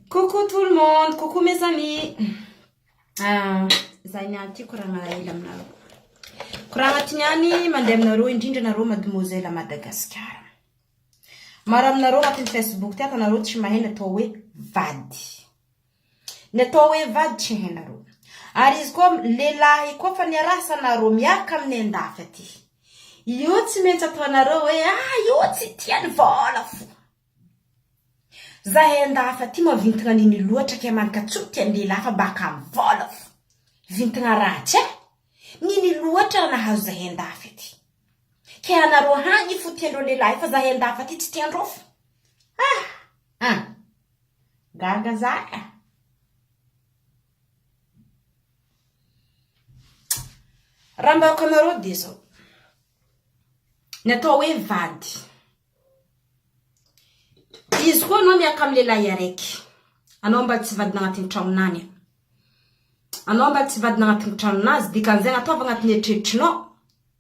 Coucou tout le monde, coucou mes amis. Ah, zay ny anty koragna hela aminareo. Koragna ty niany mandeha aminareo indrindra nareo mademoiselle Madagascar. Maro aminareo agnatin'ny Facebook ty atanareo tsy mahay natao hoe vady. Ny atao hoe vady tsy hainareo. Ary izy koa lehilahy koa fa niaraha sana ro miaraka amin'ny andafy aty. Io tsy maintsy ataonareo hoe ah io tsy tia ny vola fo. Zahay andafy aty moa vintagna nini loatra kay manka tsy tia ny lehilahy fa baka amin'ny vola fo. Vintagna ratsy eh. Nini loatra raha nahazo zahay andafy aty. Kay anareo hany fo tiandreo lehilahy fa zahay andafy aty tsy tiandreo fo. Ah ah. Gaga za ka. Raha mba aoka anareo dia zao. Ny atao hoe vady. Izy koa anao miaka amin'ny lehilahy araiky. Anao mba tsy vadina agnatin'ny tragnonany. Anao mba tsy vadina agnatin'ny tragnon'azy. Dikan'izay anao ataovy agnatin'ny eritreritrinao.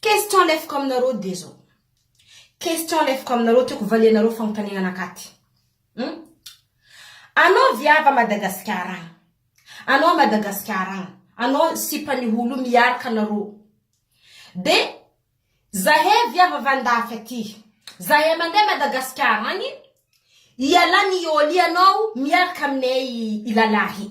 Question alefako aminareo dia zao. Question alefako aminareo tiako valianareo fanontaniana anakaty. Hum? Anao viavy à Madagasikara agny. Anao à Madagasikara agny. Anao sipa ny holo miaraka anareo. Dia zahay viavy avy andafy aty. Zahay mandeha Madagasikara agny. Ialahy miôly anao miaraka aminay i lalahy.